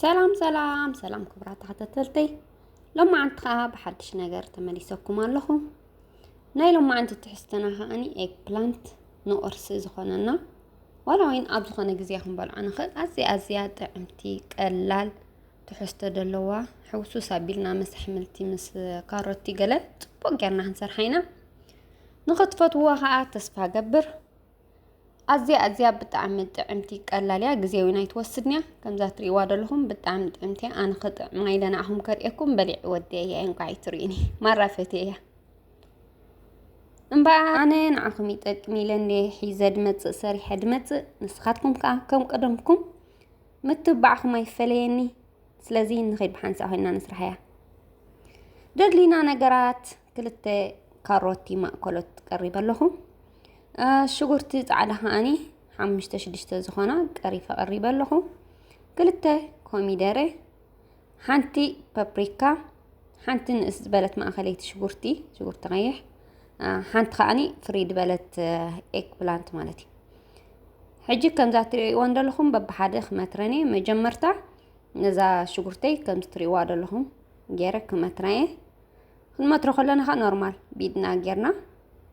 ሰላም ሰላም ሰላም ክቡራት ተኸታተልተይ ሎማዓንቲ ከዓ ብሓድሽ ነገር ተመሊሰኩም ኣለኹ ናይ ሎማዓንቲ ትሕዝትና ከዓኒ ኤግ ፕላንት ንቁርሲ ዝኾነና ዋላ ወይን ኣብ ዝኾነ ግዜ ክንበልዖ ንኽእል ኣዝያ ኣዝያ ጥዕምቲ ቀላል ትሕዝቶ ደለዋ ሕውሱስ ኣቢልና ምስ ኣሕምልቲ ምስ ካሮቲ ገለ ጽቡቅ ጌርና ክንሰርሓ ኢና ንኽትፈትውዋ ከዓ ተስፋ ገብር ኣዝያ ኣዝያ ብጣዕሚ ጥዕምቲ ቀላል እያ ግዜ እውን ኣይትወስድን እያ ከምዛ ትርእይዋ ዘለኹም ብጣዕሚ ጥዕምቲ እያ ኣነ ክጥዕማ ኢለ ንዓኹም ከርእየኩም በሊዕ ወዲየ እያ እንኳዕ ኣይትርእዩኒ ማራ ፈትየ እያ እምበኣ ኣነ ንዓኹም ይጠቅም ኢለ እንደ ሒዘ ድመፅእ ሰሪሐ ድመፅእ ንስኻትኩም ከዓ ከም ቀደምኩም ምትብባዕኹም ኣይፈለየኒ ስለዚ ንኸይድ ብሓንሳእ ኮይና ንስራሕያ ደድሊና ነገራት ክልተ ካሮቲ ማእከሎት ቀሪበ ኣለኹ ሽጉርቲ ፃዕዳ ከዓኒ ሓሙሽተ ሽዱሽተ ዝኾና ቀሪፈ ቀሪበ ኣለኹ ክልተ ኮሚደረ ሓንቲ ፓፕሪካ፣ ሓንቲ ንእስ ዝበለት ማእኸለይቲ ሽጉርቲ፣ ሽጉርቲ ቀይሕ፣ ሓንቲ ከዓኒ ፍሪ ዝበለት ኤግ ፕላንት ማለት እዩ። ሕጂ ከምዛ ትሪእዎ ዘለኹም በብሓደ ክመትረን እየ። መጀመርታ ነዛ ሽጉርተይ ከምዚ ትሪእዋ ዘለኹም ገይረ ክመትራ እየ። ክንመትሮ ከለና ኸ ኖርማል ቢድና ጌርና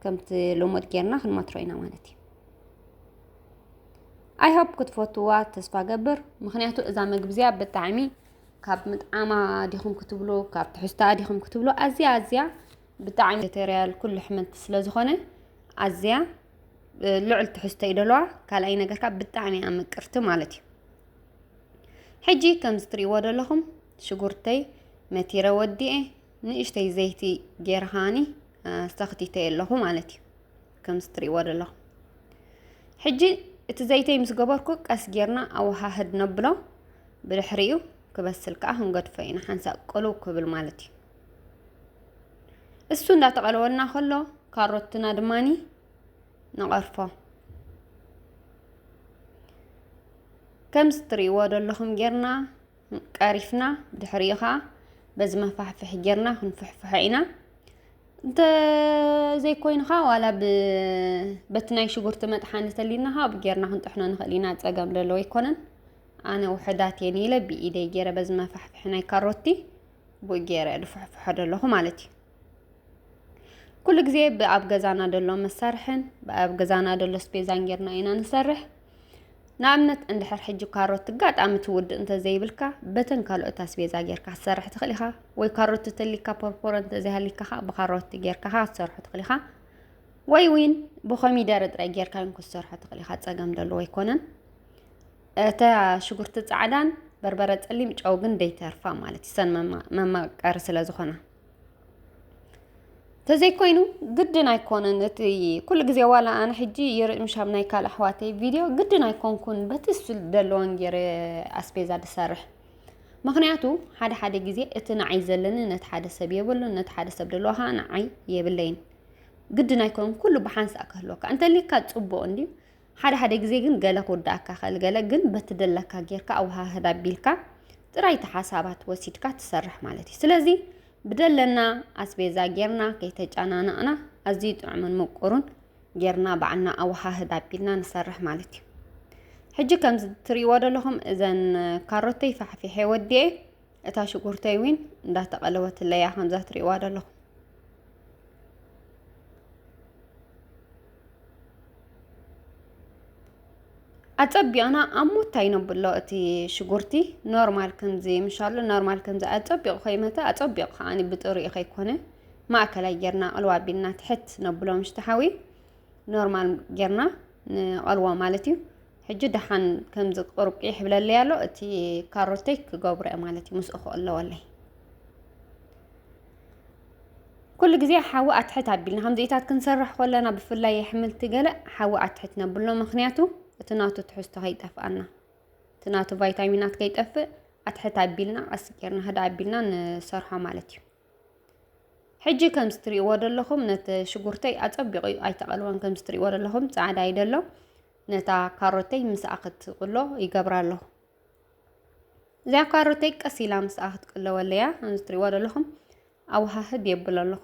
ከምቲ ልሙድ ጌርና ክንመትሮ ኢና ማለት እዩ ኣይሆፕ ክትፈትዋ ተስፋ ገብር ምክንያቱ እዛ ምግቢ እዚኣ ብጣዕሚ ካብ ምጥዓማ ዲኹም ክትብሉ ካብ ትሕዝታ ዲኹም ክትብሉ ኣዝያ ኣዝያ ብጣዕሚ ተሪያል ኩሉ ሕመንቲ ስለ ዝኾነ ኣዝያ ልዑል ትሕዝቶ እዩ ደለዋ ካልኣይ ነገርካ ብጣዕሚ እያ ምቅርቲ ማለት እዩ ሕጂ ከምዚ ትሪእዎ ደለኹም ሽጉርተይ መቲረ ወዲኤ ንእሽተይ ዘይቲ ጌርኻኒ ኣስተኽቲተየ ኣለኹ ማለት እዩ ከምዚ ትሪእዎ ዘለኹም ሕጂ እቲ ዘይተይ ምስ ገበርኩ ቀስ ጌርና ኣወሃህድ ነብሎ ብድሕሪኡ ክበስል ከዓ ክንገድፎ ኢና ሓንሳእ ቅልው ክብል ማለት እዩ እሱ እንዳተቐለወልና ከሎ ካሮትና ድማኒ ንቐርፎ ከምዚ ትሪእዎ ዘለኹም ጌርና ቀሪፍና ድሕሪኡ ከዓ በዚ መፋሕፍሒ ጌርና ክንፍሕፍሖ ኢና እንተዘይኮይኑ ከዓ ዋላ በቲ ናይ ሽጉርቲ መጥሓኒ ተሊና ከዓ ጌርና ክንጥሕኖ ንኽእል ኢና ፀገም ዘለዎ ኣይኮነን ኣነ ውሕዳት እየን ኢለ ብኢደይ ገይረ በዚ መፋሕፍሒ ናይ ካሮቲ ብኡ ገይረ ድፍሕፍሖ ዘለኹ ማለት እዩ ኩሉ ግዜ ብኣብ ገዛና ዘሎ መሳርሕን ብኣብ ገዛና ዘሎ ስፔዛን ጌርና ኢና ንሰርሕ ንኣብነት እንድሕር ሕጂ ካሮት ኣጋጣሚ ትውድእ እንተዘይብልካ በተን ካልኦት ኣስቤዛ ጌርካ ክትሰርሕ ትኽእል ኢኻ ወይ ካሮት ተተሊካ ፖርፖሮ እንተዘይሃሊካ ከዓ ብካሮት ጌርካ ከዓ ክትሰርሖ ትኽእል ኢኻ ወይ እውን ብኮሚደረ ጥራይ ጌርካ እውን ክትሰርሖ ትኽእል ኢኻ ፀገም ደለዎ ኣይኮነን እታ ሽጉርቲ ፃዕዳን በርበረ ፀሊም ጨው ግን ደይተርፋ ማለት እዩ ሰን መማቀሪ ስለ ዝኾና ተዘይኮይኑ ግድን ኣይኮነን እቲ ኩሉ ግዜ ዋላ ኣነ ሕጂ ይርእምሽ ኣብ ናይ ካልእ ኣሕዋተይ ቪድዮ ግድን ኣይኮንኩን በቲ ዘለወን ገይረ ኣስቤዛ ዝሰርሕ ምክንያቱ ሓደ ሓደ ግዜ እቲ ንዓይ ዘለኒ ነቲ ሓደ ሰብ የብሉን ነቲ ሓደ ሰብ ደለዋ ከዓ ንዓይ የብለይን ግድን ኣይኮነን ኩሉ ብሓንሳእ ክህልወካ እንተልካ ፅቡቅ እንድዩ ሓደ ሓደ ግዜ ግን ገለ ክውዳእካ ይኽእል ገለ ግን በቲ ደለካ ጌርካ ኣወሃህድ ኣቢልካ ጥራይቲ ሓሳባት ወሲድካ ትሰርሕ ማለት እዩ ስለዚ ብደለና ኣስቤዛ ጌርና ከይተጨናነቕና ኣዝዩ ጥዑምን ምቁሩን ጌርና ባዕልና ኣወሃህድ ኣቢልና ንሰርሕ ማለት እዩ ሕጂ ከምዚ ትሪእዎ ዘለኹም እዘን ካሮተይ ፋሕፊሐ ወዲኤ እታ ሽጉርተይ እውን እንዳተቐለወትለይ እያ ከምዛ ትሪእዋ ዘለኹም ኣፀቢቕና ኣብ ሞታ ይነብሎ እቲ ሽጉርቲ ኖርማል ከምዚ ምሻሉ ኖርማል ከምዚ ኣፀቢቑ ከይመተ ኣፀቢቑ ከዓ ብጥሪኡ ከይኮነ ማእከላይ ጌርና ቐልዋ ኣቢልና ትሕት ነብሎ ምሽቲ ሓዊ ኖርማል ጌርና ንቐልዎ ማለት እዩ ሕጂ ደሓን ከምዚ ቁርቂ ይሕብለለይ ኣሎ እቲ ካሮተይ ክገብሮ እየ ማለት እዩ ምስኡ ክቕለወለይ ኩሉ ግዜ ሓዊ ኣትሕት ኣቢልና ከምዚኢታት ክንሰርሕ ከለና ብፍላይ የሕምልቲ ገለ ሓዊ ኣትሕት ነብሎ ምክንያቱ እቲ ናቱ ትሕዝቶ ከይጠፍኣና እቲ ናቱ ቫይታሚናት ከይጠፍእ ኣትሕት ኣቢልና ቀስ ጌርና ህዳ ኣቢልና ንሰርሖ ማለት እዩ ሕጂ ከምዚ ትሪእዎ ዘለኹም ነቲ ሽጉርተይ ኣፀቢቑ ኣይተቐልወን ከምዚ ትሪእዎ ዘለኹም ፃዕዳ ይደሎ ነታ ካሮተይ ምስኣ ክትቅሎ ይገብራ ኣለኹ እዚኣ ካሮተይ ቀስ ኢላ ምስኣ ክትቅለወለያ ከምዚ ትሪእዋ ዘለኹም ኣውሃህድ የብል ኣለኹ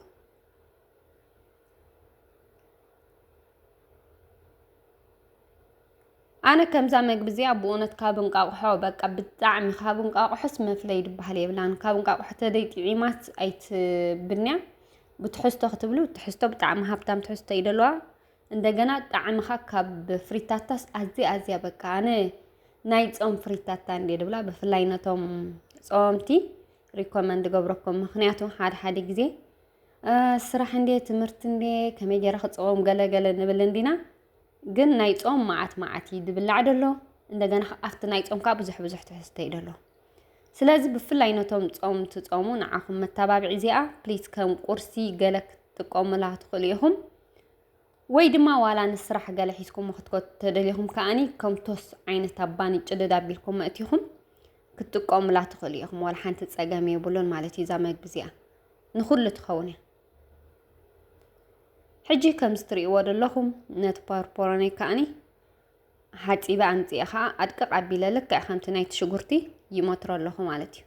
ኣነ ከምዛ መግቢ እዚኣ ብእውነት ካብ እንቃቑሖ በቃ ብጣዕሚ ካብ እንቃቑሖስ መፍለይ ድበሃል የብላን ካብ እንቃቑሖ ተደይ ጥዒማት ኣይትብንያ ብትሕዝቶ ክትብሉ ትሕዝቶ ብጣዕሚ ሃብታም ትሕዝቶ ይደለዋ እንደገና ጣዕምኻ ካብ ፍሪታታስ ኣዝያ ኣዝያ በቃ ኣነ ናይ ጾም ፍሪታታ እንዴ ድብላ ብፍላይ ነቶም ጾምቲ ሪኮመንድ ገብረኩም ምክንያቱ ሓደ ሓደ ግዜ ስራሕ እንዴ ትምህርቲ እንዴ ከመይ ገይረ ክጸወም ገለገለ ንብል እንዲና ግን ናይ ጾም መዓት መዓት እዩ ድብላዕ ደሎ እንደገና ኣብቲ ናይ ጾም ከዓ ብዙሕ ብዙሕ ትሕዝቶ እዩ ደሎ ስለዚ ብፍላይ ነቶም ጾም ትጾሙ ንዓኹም መተባብዒ እዚኣ ፕሊስ ከም ቁርሲ ገለ ክትጥቀሙላ ትኽእሉ ኢኹም ወይ ድማ ዋላ ንስራሕ ገለ ሒዝኩሞ ክትከቱ ተደሊኹም ከዓኒ ከምቶስ ዓይነት ኣብ ባኒ ጭድድ ኣቢልኩም መእቲኹም ክትጥቀሙላ ትኽእሉ ኢኹም ዋላ ሓንቲ ፀገም የብሉን ማለት እዩ እዛ መግቢ እዚኣ ንኹሉ ትኸውን እያ ሕጂ ከምዚ ትርእይዎ ዘለኹም ነቲ ፓርፖሮነይ ከዓኒ ሓፂበ ኣምፅኤ ከዓ ኣድቅቕ ኣቢለ ልክዕ ከምቲ ናይቲ ሽጉርቲ ይመትሮ ኣለኹ ማለት እዩ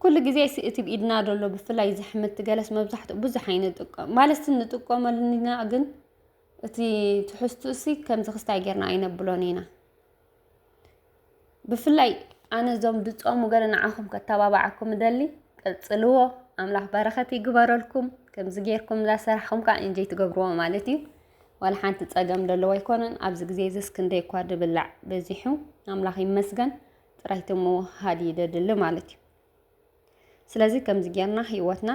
ኩሉ ግዜስ እቲ ብኢድና ዘሎ ብፍላይ እዚ ሕምብቲ ገለስ መብዛሕትኡ ብዙሕ ኣይንጥቀም ማለትስ ንጥቀመሉ ኢና ግን እቲ ትሕዝቱኡሲ ከምዚ ክስታይ ጌርና ኣይነብሎን ኢና። ብፍላይ ኣነ እዞም ድጾሙ ገለ ንዓኹም ከተባብዓኩም እደሊ ቀጽልዎ ኣምላኽ በረኸት ይግበረልኩም ከምዚ ጌርኩም እዛ ስራሕኩም ከዓ እንጀይ ትገብርዎ ማለት እዩ ዋላ ሓንቲ ጸገም ዘለዎ ኣይኮነን ኣብዚ ግዜ እዚስ ክንደይ እኳ ድብላዕ በዚሑ ኣምላኽ ይመስገን ጥራይ ተመወሃድ ይደድሊ ማለት እዩ ስለዚ ከምዚ ጌርና ህይወትና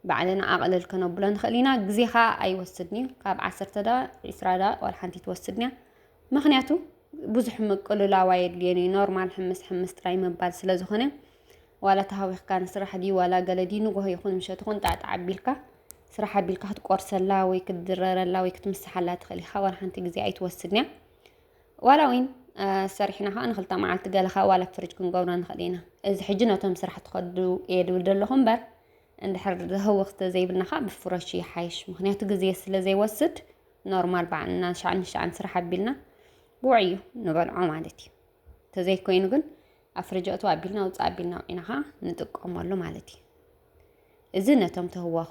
ባዕልና ኣቕልል ከነብሎ ንኽእል ኢና ግዜ ከዓ ኣይወስድን እዩ ካብ ዓሰርተ ዳ ዕስራ ዳ ዋላ ሓንቲ ትወስድን እያ ምክንያቱ ብዙሕ ምቅልላው ኣየድልዮን እዩ ኖርማል ሕምስ ሕምስ ጥራይ ምባል ስለ ዝኾነ ዋላ ተሃዊኽካ ንስራሕ ድዩ ዋላ ገለ ድዩ ንጎሆ ይኹን ምሸት ይኹን ጣዕጣዕ ኣቢልካ ስራሕ ኣቢልካ ክትቆርሰላ ወይ ክትድረረላ ወይ ክትምስሓላ ትኽእል ኢኻ ዋላ ሓንቲ ግዜ ኣይትወስድን እያ ዋላ ዊን ሰሪሕና ከዓ ንክልተ መዓልቲ ገለ ካብ ዋላ ፍርጅ ክንገብሮ ንኽእል ኢና እዚ ሕጂ ነቶም ስራሕ ትኸዱ እየ ድብል ዘለኹ እምበር እንድሕር ህውኽቲ ዘይብልና ከዓ ብፍረሽ ይሓይሽ ምክንያቱ ግዜ ስለ ዘይወስድ ኖርማል ባዕልና ሻዕ ንሻዕን ስራሕ ኣቢልና ብውዕዩ ንበልዖ ማለት እዩ ተዘይኮይኑ ግን ኣብ ፍርጅ ኣእቱ ኣቢልና ውፃእ ኣቢልና ውዒና ከዓ ንጥቀመሉ ማለት እዩ እዚ ነቶም ተህዋኹ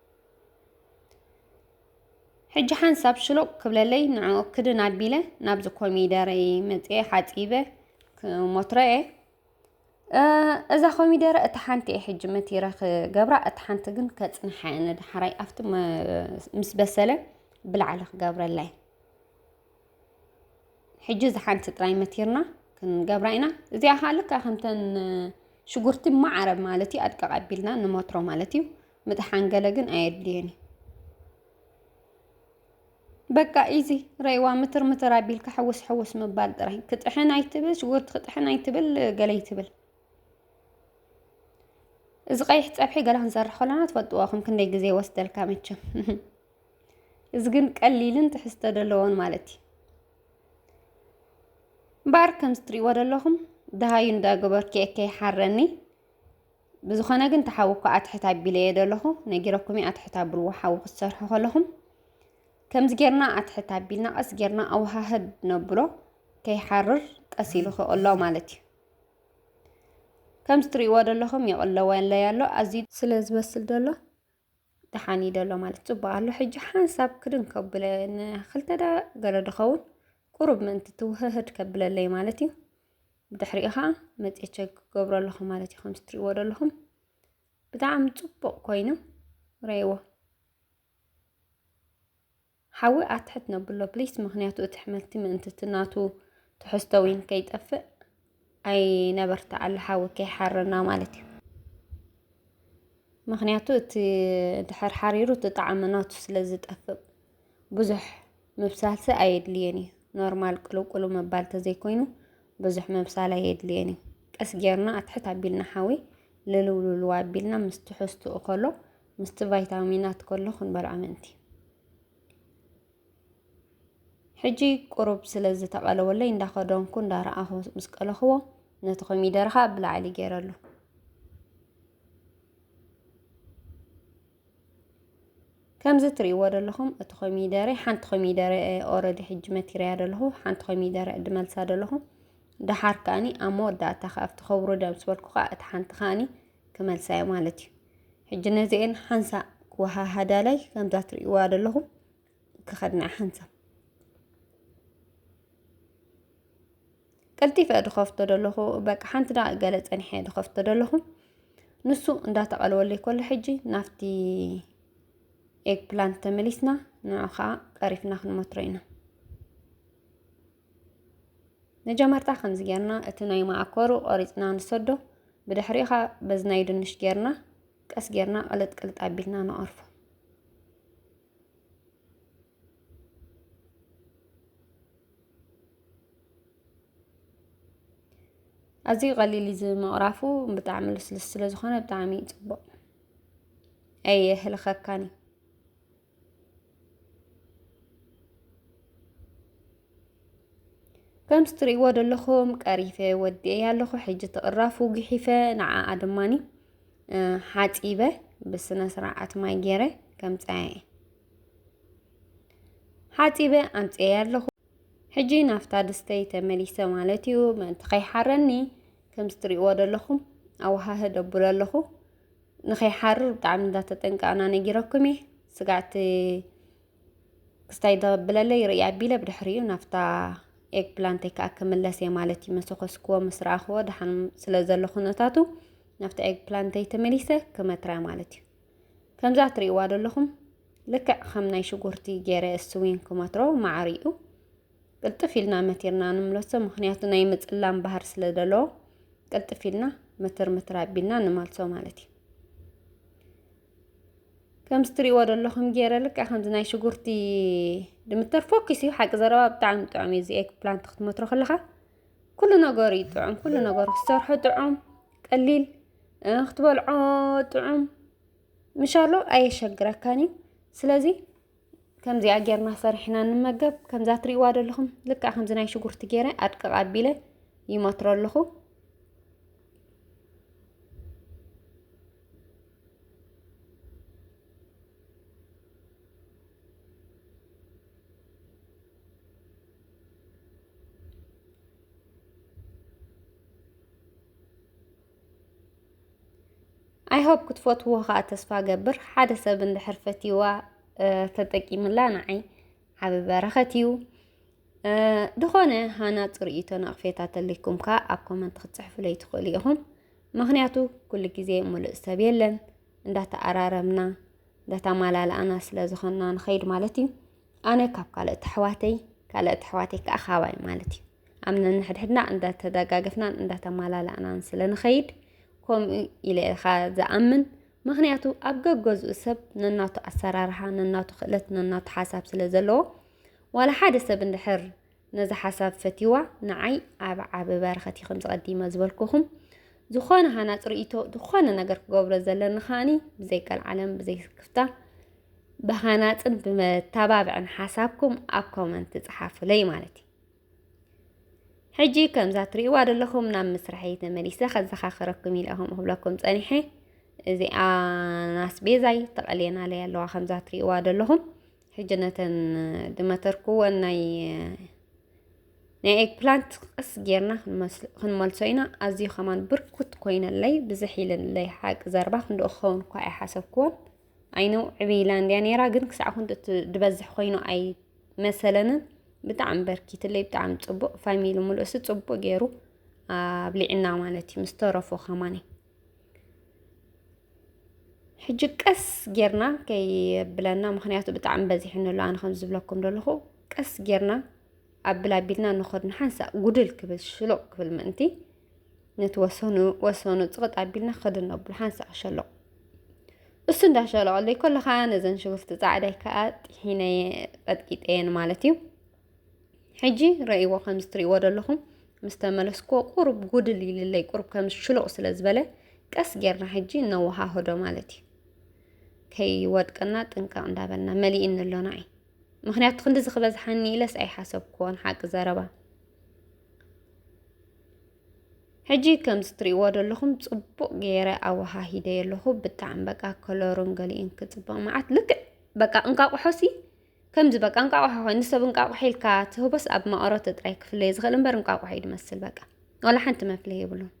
ሕጂ ሓንሳብ ሽሎቕ ክብለለይ ንዕኡ ክድን ኣቢለ ናብዚ ኮሚደረይ መፅኤ ሓፂበ ሞትረየ እዛ ኮሚደረ እቲ ሓንቲ እየ ሕጂ መቲረ ክገብራ እቲ ሓንቲ ግን ከፅንሓ እየ ንዳሓራይ ኣብቲ ምስ በሰለ ብላዕሊ ክገብረላይ ሕጂ እዚ ሓንቲ ጥራይ መቲርና ክንገብራ ኢና እዚኣ ከዓ ልካ ከምተን ሽጉርቲ ማዕረ ማለት እዩ ኣድቀቕ ኣቢልና ንሞትሮ ማለት እዩ ምጥሓን ገለ ግን ኣየድልየን እዩ በቃ ኢዚ ረይዋ ምትር ምትር ኣቢልካ ሕውስ ሕውስ ምባል ጥራይ ክጥሕን ኣይትብል ሽጉርቲ ክጥሕን ኣይትብል ገለ ይትብል እዚ ቀይሕ ፀብሒ ገላ ክንሰርሕ ከለና ትፈልጥዎ ከም ክንደይ ግዜ ወስደልካ መቸም እዚ ግን ቀሊልን ትሕዝቶ ዘለዎን ማለት እዩ እምበኣር ከምዚ ትሪእዎ ዘለኹም ደሃዩ እንዳገበርኪ እከይ ሓረኒ ብዝኾነ ግን ተሓዊ እኳ ኣትሕት ኣቢለዮ ደለኹ ነጊረኩም እየ ኣትሕት ኣብልዎ ሓዊ ክትሰርሑ ከለኹም ከምዚ ጌርና ኣትሕት ኣቢልና ቀስ ጌርና ኣውሃህድ ነብሎ ከይሓርር ቀስ ኢሉ ክቕሎ ማለት እዩ ከምዚ ትርእይዎ ደለኹም ይቕለወለይ ኣሎ ኣዝዩ ስለ ዝበስል ደሎ ደሓን እዩ ደሎ ማለት ጽቡቅ ኣሎ ሕጂ ሓንሳብ ክድን ከብለ ንክልተ ደ ገለ ድኸውን ቁሩብ ምእንቲ ትውህህድ ከብለለይ ማለት እዩ ብድሕሪኡ ከዓ መፅኤ ቸክ ክገብሮ ኣለኹ ማለት እዩ ከምዚ ትሪእዎ ዘለኹም ብጣዕሚ ፅቡቅ ኮይኑ ረይዎ ሓዊ ኣትሕት ነብሎ ፕሊስ ምክንያቱ እቲ ሕመልቲ ምእንቲ እቲ ናቱ ትሕዝቶ ዊን ከይጠፍእ ኣይነበርትዓሉ ሓዊ ከይሓረና ማለት እዩ ምክንያቱ እቲ ድሕር ሓሪሩ እቲ ጣዕሚ ናቱ ስለ ዝጠፍእ ብዙሕ ምብሳልሲ ኣየድልየን እዩ ኖርማል ቅልውቅሉ ምባል ተዘይኮይኑ ብዙሕ ምብሳል ኣየድልየን እዩ ቀስ ጌርና ኣትሕት ኣቢልና ሓዊ ልልውልልዋ ኣቢልና ምስ ትሕዝትኡ ከሎ ምስቲ ቫይታሚናት ከሎ ክንበሉ ኣመንቲ ሕጂ ቁሩብ ስለ ዝተቐለወለይ እንዳኸደንኩ እንዳረኣኹ ምስ ቀለኽዎ ነቲ ኮሚደረ ከዓ ብላዕሊ ገይረሉ ከምዚ ትርእይዎ ዘለኹም እቲ ኮሚደረ ሓንቲ ኮሚደረ ኦረዲ ሕጂ መቲርያ ዘለኹ ሓንቲ ኮሚደረ እድመልሳ ዘለኹ ደሓር ከዓኒ ኣብ መወዳእታ ከኣብቲ ከብሩ ደም ዝበልኩ ከዓ እቲ ሓንቲ ከዓኒ ክመልሳዮ ማለት እዩ ሕጂ ነዚኤን ሓንሳእ ክወሃሃዳላይ ከምዛ ትርእይዋ ዘለኹም ክኸድና ሓንሳብ ቀልጢፈ ድኸፍቶ ደለኹ በቃ ሓንቲ ዳ ገለ ፀኒሐ ድኸፍቶ ደለኹ ንሱ እንዳተቐልወለይ ኮሎ ሕጂ ናብቲ ኤግ ፕላንት ተመሊስና ንዑ ከዓ ቀሪፍና ክንመትሮ ኢና መጀመርታ ከምዚ ጌርና እቲ ናይ መዓኮሩ ቆሪጽና ንሰዶ ብድሕሪኡ ኸኣ በዚ ናይ ድንሽ ጌርና ቀስ ጌርና ቅልጥ ቅልጥ ኣቢልና ንቐርፎ። ኣዝዩ ቀሊል እዩ ዝምቕራፉ ብጣዕሚ ልስልስ ስለ ዝኾነ ብጣዕሚ እዩ ጽቡቕ ኣየህልኸካን እዩ። ከምዚ ትርእይዎ ዘለኹም ቀሪፈ ወዲኤያ ኣለኹ። ሕጂ ትቕራፉ ግሒፈ ንዓኣ ድማኒ ሓፂበ ብስነ ስርዓት ማይ ገይረ ከምፀያ እየ ሓፂበ ኣምፅኤያ ኣለኹ። ሕጂ ናፍታ ድስተይ ተመሊሰ ማለት እዩ። ምእንቲ ከይሓረኒ ከምዚ ትርእይዎ ዘለኹም ኣወሃህድ ኣብሎ ኣለኹ። ንኸይሓርር ብጣዕሚ እንዳተጠንቀቕና ነጊረኩም እየ ስጋዕቲ ክስታይ ደብለለይ ርእይ ኣቢለ ብድሕሪኡ ናፍታ ኤግ ፕላንተይ ከዓ ክምለስ እየ ማለት እዩ መሰኮስክዎ ምስ ረኣኽዎ ድሓን ስለ ዘሎ ኩነታቱ ናፍታ ኤግ ፕላንተይ ተመሊሰ ክመትራ ማለት እዩ ከምዛ እትርእይዋ ዘለኹም ልክዕ ከም ናይ ሽጉርቲ ገይረ እሱዊን ክመትሮ ማዕሪኡ ቅልጥፍ ኢልና መቲርና ንምለሶ ምክንያቱ ናይ ምጽላም ባህር ስለ ዘለዎ ቅልጥፍ ኢልና ምትር ምትር ኣቢልና ንመልሶ ማለት እዩ ከምዚ ትሪእዎ ዘለኹም ገይረ ልካ ከምዚ ናይ ሽጉርቲ ድምተር ፎኪስ እዩ ሓቂ ዘረባ ብጣዕሚ ጥዑም እዩ እዚ ኤግ ፕላንት ክትመትሮ ከለኻ ኩሉ ነገሩ እዩ ጥዑም ኩሉ ነገሩ ክትሰርሖ ጥዑም ቀሊል ክትበልዖ ጥዑም ምሻሎ ኣየሸግረካን እዩ ስለዚ ከምዚኣ ጌርና ሰሪሕና ንመገብ ከምዛ ትሪእዋ ዘለኹም ልክዕ ከምዚ ናይ ሽጉርቲ ጌረ ኣድቅቕ ኣቢለ ይመትሮ ኣለኹ ኣይሆፕ ክትፈትዎ ከዓ ተስፋ ገብር ሓደ ሰብ እንድሕር ፈትዋ ተጠቂምላ ንዓይ ዓብ በረኸት እዩ ዝኾነ ሃና ፅርኢቶ ናቕፌታ ተልይኩም ከዓ ኣብ ኮመንት ክትፅሕፍለይ ትኽእሉ ኢኹም ምክንያቱ ኩሉ ግዜ ሙሉእ ሰብ የለን እንዳተኣራረምና እንዳተማላላእና ስለ ዝኾንና ንኸይድ ማለት እዩ ኣነ ካብ ካልኦት ኣሕዋተይ ካልኦት ኣሕዋተይ ከዓ ካባይ ማለት እዩ ኣብ ነንሕድሕድና እንዳተደጋገፍናን እንዳተማላላእናን ስለ ንኸይድ ከምኡ ኢለ ኢኻ ዝኣምን ምክንያቱ ኣብ ገገዝኡ ሰብ ነናቱ ኣሰራርሓ ነናቱ ክእለት ነናቱ ሓሳብ ስለ ዘለዎ ዋላ ሓደ ሰብ እንድሕር ነዚ ሓሳብ ፈትዋ ንዓይ ኣብ ዓብ በረኸት ይኹም ዝቐዲመ ዝበልኩኹም ዝኾነ ሃናፅ ርእቶ ዝኾነ ነገር ክገብሮ ዘለኒ ከዓኒ ብዘይ ቀልዓለም ብዘይ ክፍታ ብሃናፅን ብመታባብዕን ሓሳብኩም ኣብ ኮመንት ፅሓፉለይ ማለት እዩ ሕጂ ከምዛ ትሪእዋ ዘለኹም ናብ ምስራሐይ ተመሊሰ ከዘኻኽረኩም ኢለ ከም ክብለኩም ጸኒሐ እዚኣ ናስቤዛይ ተቐልየናለይ ኣለዋ ከምዛ ትሪእዋ ዘለኹም ሕጂ ነተን ድመተርክወን ናይ ናይ ኤግ ፕላንት ቀስ ጌርና ክንመልሶ ኢና ኣዝዩ ከማን ብርኩት ኮይነለይ ብዝሕ ኢለለይ ሓቂ ዘርባ ክንደኡ ክኸውን እኳ ኣይሓሰብክዎን ኣይነው ዕብይ ኢላ እንድያ ነይራ ግን ክሳዕ ኩንት እቲ ዝበዝሕ ኮይኑ ኣይ መሰለንን ብጣዕሚ በርኪትለይ ብጣዕሚ ፅቡቅ ፋሚሊ ሙሉእሲ ፅቡቅ ገይሩ ኣብሊዕና ማለት እዩ ምስ ተረፉ ከማኒ ሕጂ ቀስ ጌርና ከይብለና ምክንያቱ ብጣዕሚ በዚሕኒ ኣሎ ኣነ ከም ዝብለኩም ዘለኹ ቀስ ጌርና ኣብል ኣቢልና ንኸድ ንሓንሳእ ጉድል ክብል ሽሎቅ ክብል ምእንቲ ነቲ ወሰኑ ወሰኑ ጽቕጥ ኣቢልና ክኸድ ነብሎ ሓንሳእ ክሸለቑ እሱ እንዳሸለቐለይ ከሎ ከዓ ነዘን ሽጉርቲ ፃዕዳይ ከዓ ጢሒነየ ቀጥቂጠየን ማለት እዩ ሕጂ ረእይዎ ከም ዝትርእይዎ ዘለኹም ምስ ተመለስክዎ ቁሩብ ጉድል ኢልለይ ቁሩብ ከም ሽሉቕ ስለ ዝበለ ቀስ ጌርና ሕጂ እነወሃህዶ ማለት እዩ ከይወድቀና ጥንቃቕ እንዳበልና መሊእኒ ኣሎና እዩ ምክንያቱ ክንዲዚ ክበዝሓኒ ኢለስ ኣይሓሰብክዎን ሓቂ ዘረባ ሕጂ ከምዚ ትሪእዎ ዘለኹም ጽቡቕ ገይረ ኣወሃሂደዮ ኣለኹ ብጣዕሚ በቃ ከለሩን ገሊኡን ክጽብቕ መዓት ልክዕ በቃ እንቃቑሖሲ ከምዚ በቃ እንቃቑሖ ኮይኑ ሰብ እንቃቑሖ ኢልካ ትህቦስ ኣብ መቐረቱ ጥራይ ክፍለዮ ዝኽእል እምበር እንቃቑሖ እዩ ዝመስል በቃ ዋላ ሓንቲ መፍለይ የብሉን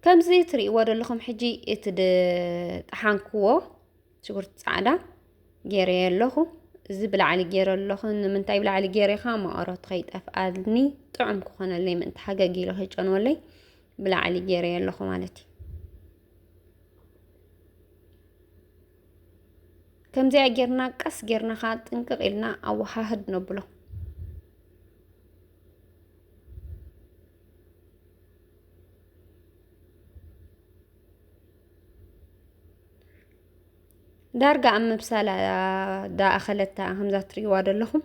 ከምዚ ትሪእዎ ዘለኹም ሕጂ እቲ ድጠሓንክዎ ሽጉርቲ ፃዕዳ ገይረየ ኣለኹ እዚ ብላዕሊ ገይረ ኣለኹ ንምንታይ ብላዕሊ ገይሬኻ መቐረቱ ከይጠፍኣልኒ ጥዑም ክኾነለይ ምእንቲ ሓገግ ኢለ ከይጨንወለይ ብላዕሊ ገይረየ ኣለኹ ማለት እዩ ከምዚኣ ጌርና ቀስ ጌርና ከዓ ጥንቅቕ ኢልና ኣወሃህድ ነብሎ ዳርጋ ኣብ ምብሳል ዳኣኸለታ ከምዛ ትሪእዋ ዘለኹም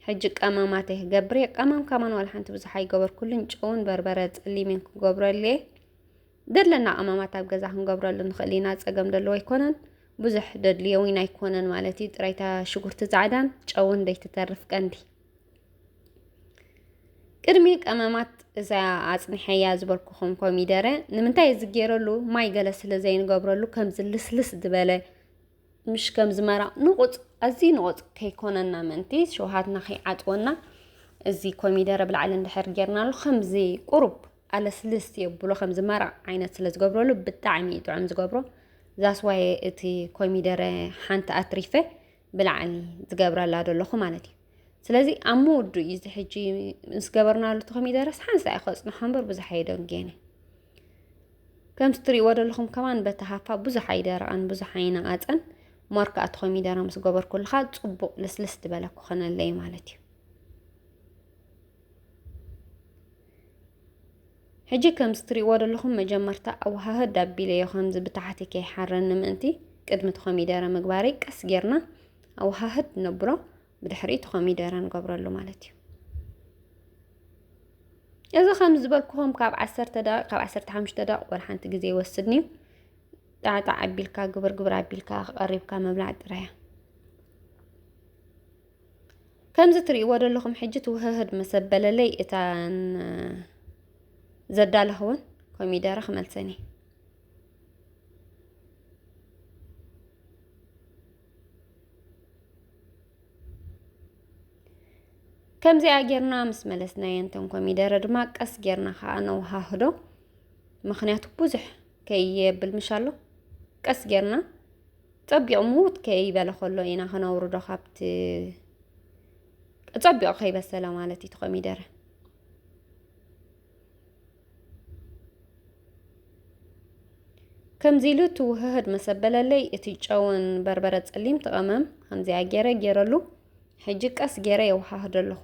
ሕጂ ቀመማት እየ ክገብር እየ ቀመም ከማን ዋላ ሓንቲ ብዙሕ ኣይገበርኩሉን ጨውን በርበረ ፀሊምን ክገብረሉ እየ ደለና ቀመማት ኣብ ገዛ ክንገብረሉ ንኽእል ኢና ፀገም ደለዎ ኣይኮነን ብዙሕ ደድልዮ እውን ኣይኮነን ማለት እዩ ጥራይታ ሽጉርቲ ፃዕዳን ጨውን ደይትተርፍ ቀንዲ ቅድሚ ቀመማት እዛ ኣጽኒሐያ ዝበልኩኹም ኮሚደረ ንምንታይ እዚ ገይረሉ ማይ ገለ ስለ ዘይንገብረሉ ከምዚ ልስልስ ዝበለ ምሽ ከምዚ መራቕ ንቑፅ ኣዝዩ ንቑፅ ከይኮነና ምእንቲ ሸውሃትና ከይዓፅወና እዚ ኮሚደረ ብላዕሊ እንድሕር ጌርናሉ ከምዚ ቁሩብ ኣለስልስ የብሎ ከምዚ መራቕ ዓይነት ስለ ዝገብረሉ ብጣዕሚ እዩ ጥዑም ዝገብሮ ዛስዋየ እቲ ኮሚደረ ሓንቲ ኣትሪፈ ብላዕኒ ዝገብረላ ደለኹ ማለት እዩ ስለዚ ኣብ ምውዱ እዩ እዚ ሕጂ ምስ ገበርናሉ እቲ ኮሚደረስ ሓንሳ እዩ ከፅንሖ እምበር ብዙሕ ኣየደንጌነ ከምቲ ትሪእዎ ደለኹም ከማን በቲ ሃፋ ብዙሕ ኣይደረቐን ብዙሕ ኣይነቐፀን ሞር ከዓ እቲ ኮሚደረ ምስ ገበርኩልካ ፅቡቕ ልስልስ ዝበለ ክኾነለይ ማለት እዩ ሕጂ ከምዚ ትሪእዎ ዘለኹም መጀመርታ ኣወሃህድ ኣቢለዮ ከምዚ ብታሕቲ ከይሓረኒ ምእንቲ ቅድሚ እቲ ኮሚደረ ምግባረይ ቀስ ጌርና ኣወሃህድ ነብሎ ብድሕሪ እቲ ኮሚደረ ንገብረሉ ማለት እዩ እዚ ከም ዝበልኩኹም ካብ ዓሰርተ ደቂቕ ካብ ዓሰርተ ሓሙሽተ ደቂቕ ወላ ሓንቲ ግዜ ይወስድኒ እዩ ጣዕጣዕ ኣቢልካ ግብር ግብር ኣቢልካ ቀሪብካ ምብላዕ ጥራያ ከምዚ ትርእይዎ ዘለኹም ሕጂ ትውህህድ ምስ ኣበለለይ እተን ዘዳለኽወን ኮሚደረ ክመልሰን እዩ ከምዚኣ ጌርና ምስ መለስናየን እተን ኮሚደረ ድማ ቀስ ጌርና ከዓ ነውሃህዶ ምክንያቱ ብዙሕ ከየብል ምሻሎ ቀስ ጌርና ጸቢቕ ምዉት ከይበለ ከሎ ኢና ከነውርዶ ካብቲ ጸቢቕ ከይበሰለ ማለት እዩ ኮሚደረ ከምዚ ኢሉ ትውህህድ መሰበለለይ እቲ ጨውን በርበረ ጸሊም ትቐመም ከምዚኣ ገይረ ገይረሉ ሕጂ ቀስ ገይረ የውሃህዶ ኣለኹ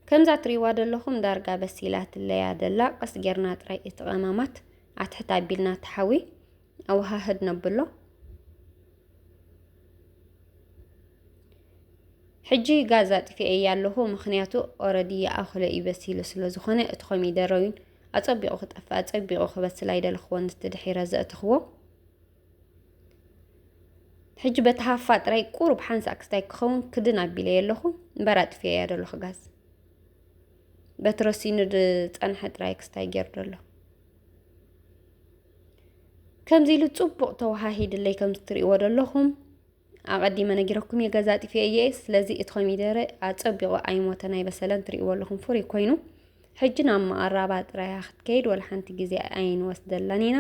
ከምዛ ትሪዋ ደለኹም ዳርጋ በሲላ ትለያ ደላ ቀስ ጌርና ጥራይ እቲ ቀማማት ኣትሕት ኣቢልና ተሓዊ ኣወሃህድ ነብሎ ሕጂ ጋዝ ኣጥፊኤ እያ ኣለኹ ምክንያቱ ኦረዲ ይኣኽሎ እዩ በሲሉ ስለ ዝኾነ እቲ ኮሚደረዊን ኣጸቢቑ ክጠፍእ ኣጸቢቑ ክበስል ኣይደለኽዎን እቲ ድሒረ ዘእተኽዎ ሕጂ በቲ ሃፋ ጥራይ ቁሩብ ሓንሳእ ክስታይ ክኸውን ክድን ኣቢለዮ ኣለኹ እምበር ኣጥፊኤያ ዘለኹ ጋዝ በቲ ረሲኑ ዝፀንሐ ጥራይ ክስታይ ገይሩ ዘሎ ከምዚ ኢሉ ፅቡቕ ተወሃሂድለይ ከም እትሪእዎ ዘለኹም ኣቀዲመ ነጊረኩም እየ ገዛ ኣጢፌ እየ ስለዚ እቲ ኮሚደረ ኣጸቢቑ ኣይሞተን ኣይበሰለን ትሪእዎ ኣለኹም ፍሩይ ኮይኑ ሕጂ ናብ መቐራባ ጥራያ ክትከይድ ወላ ሓንቲ ግዜ ኣይንወስደላን ኢና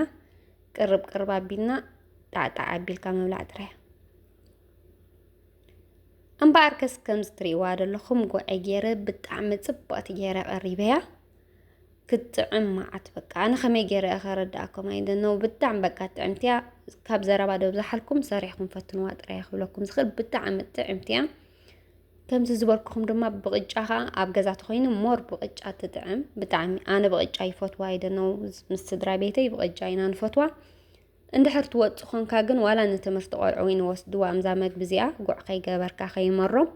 ቅርብ ቅርብ ኣቢልና ጣዕጣዕ ኣቢልካ ምብላዕ ጥራያ እምበኣር ከስ ከምዚ ትሪእዋ ዘለኹም ጉዐ ገይረ ብጣዕሚ ጽብቕቲ ገይረ ቀሪበያ ክትጥዕም መዓት በቃ ኣነ ከመይ ገይረ እያ ከረዳእኩም ኣይደነው ብጣዕሚ በቃ ጥዕምቲ እያ ካብ ዘረባ ዶ ብዝሓልኩም ሰሪሕኩም ፈትንዋ ጥራይ ክብለኩም ዝኽእል ብጣዕሚ ጥዕምቲ እያ ከምዚ ዝበልኩኹም ድማ ብቕጫ ከዓ ኣብ ገዛ ተኮይኑ ሞር ብቕጫ ትጥዕም ብጣዕሚ ኣነ ብቕጫ ይፈትዋ ኣይደነው ምስ ስድራ ቤተይ ብቕጫ ኢና ንፈትዋ እንድሕር ትወጽእ ኾንካ ግን ዋላ ንትምህርቲ ቆልዑ ውን ይወስድዋም እዛ መግቢ እዚኣ ጉዕ ከይገበርካ ከይመሮም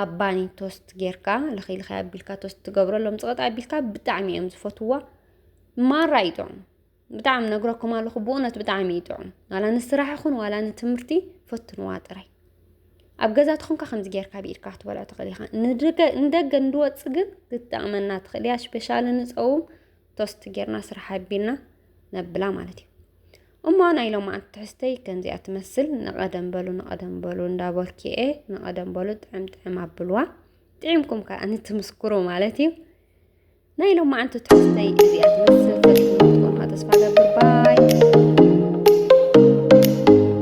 ኣብ ባኒ ቶስት ጌርካ ልኺልኺ ኣቢልካ ቶስት ትገብረሎም ጽቕጥ ኣቢልካ ብጣዕሚ እዮም ዝፈትዋ ማራ እዩ ጥዑም ብጣዕሚ ነግረኩም ኣለኹ ብእውነት ብጣዕሚ እዩ ጥዑም ዋላ ንስራሕ ይኹን ዋላ ንትምህርቲ ፈትንዋ ጥራይ ኣብ ገዛ ትኾንካ ከምዚ ጌርካ ብኢድካ ክትበልዖ ትኽእል ኢኻ ንደገ እንድወፅ ግን ክትጠቕመና ትኽእል እያ ስፔሻሊ ንፀውም ቶስት ጌርና ስራሕ ኣቢልና ነብላ ማለት እዩ እሞ ናይ ሎማዓንቲ ትሕዝተይ ከምዚኣ ትመስል ንቐደም በሉ ንቐደም በሉ እንዳበልኪኤ ንቐደም በሉ ጥዕም ጥዕም ኣብልዋ ጥዒምኩም ከዓ ንትምስክሩ ማለት እዩ ናይ ሎማዓንቲ ትሕዝተይ እዚኣ ትመስል ተስፋ ገብር ባይ